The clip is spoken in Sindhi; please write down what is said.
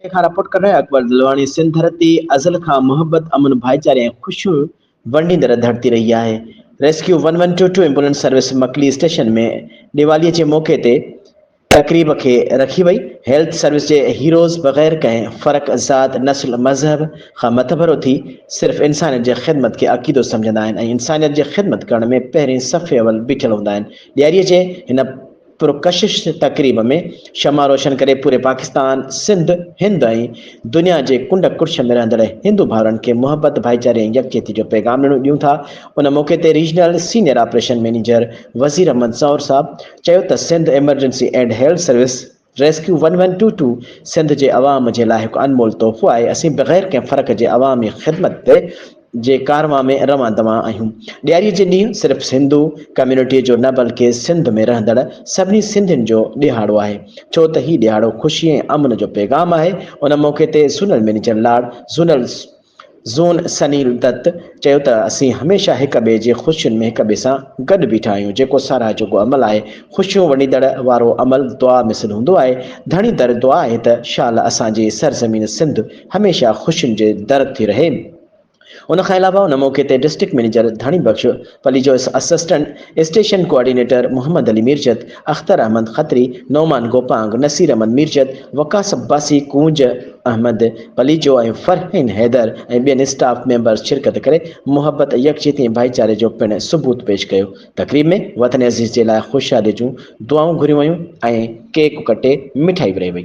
تنهن کان رپورٽ ڪندڙ اڪبر دلواڻي سنڌ ڌرتي ازل کان محبت، امن، ڀائيچاري ۽ خوشيون ونڊيندڙ ڌرتي رهي آهي، rescue one one two two ambulance service Makli station ۾ Diwali جي موقعي تي تقريب کي رکي وئي، هيلٿ سروس جي هيروز بغير ڪنهن فرق، ذات، نسل، مذهب کان مٿڀرو ٿي صرف انسانيت جي خدمت کي عقيدو سمجهندا آهن ۽ انسانيت جي خدمت ڪرڻ ۾ پهرين صف اول بيٺل هوندا آهن، ڏياري جي هن. پرڪشش تقريب ۾ شمع روشن ڪري پوري پاڪستان، سنڌ، هند ۽ دنيا جي ڪنڊ ڪڙڇ ۾ رهندڙ هندو ڀائرن کي محبت، ڀائيچاري ۽ يڪجهتي جو پيغام ڏنو ڏيون ٿا. ان موقعي تي regional senior operation manager Wazir Ahmed سئور صاحب چيو ته Sindh emergency and health service rescue one one two two Sindh جي عوام جي لاء هڪ انمول تحفو آهي، اسين بغير ڪنهن فرق جي عوامي خدمت تي جي ڪارنوان ۾ روان دوان آهيون. ڏياري جي ڏينهن صرف هندو ڪميونٽي جو نه بلڪه سنڌ ۾ رهندڙ سڀني سنڌين جو ڏيهاڙو آهي ڇو ته هي ڏيهاڙو خوشي ۽ امن جو پيغام آهي ان موقعي تي zonal manager Lar zonal zone Sunil Dutt چيو ته اسين هميشه هڪ ٻئي جي خوشين ۾ هڪ ٻئي سان گڏ بيٺا آهيون جيڪو ساراهه جوڳو عمل آهي خوشيون ونڊيندڙ وارو عمل دعا مثل هوندو آهي ڌڻي در دعا آهي ته شال اسان جي سرزمين سنڌ هميشه خوشين جي در ٿي رهي. ان کان علاوه ان موقعي تي district manager Dhani Bakhsh Palijo, assistant station coordinator Muhammad Ali Mirjat, Akhtar Ahmed Khatri, Noman Gopang, Naseer Ahmed Mirjat, Waqas Abbasi, ڪونج احمد پليجو ۽ فرحين حيدر ۽ ٻين اسٽاف ميمبرز شرڪت ڪري محبت، يڪجهتي ۽ ڀائيچاري جو پڻ ثبوت پيش ڪيو. تقريب ۾ وطن عزيز جي لاء خوشحالي جون دعائون گهريون ويون ۽ ڪيڪ ڪٽي مٺائي ورهائي وئي.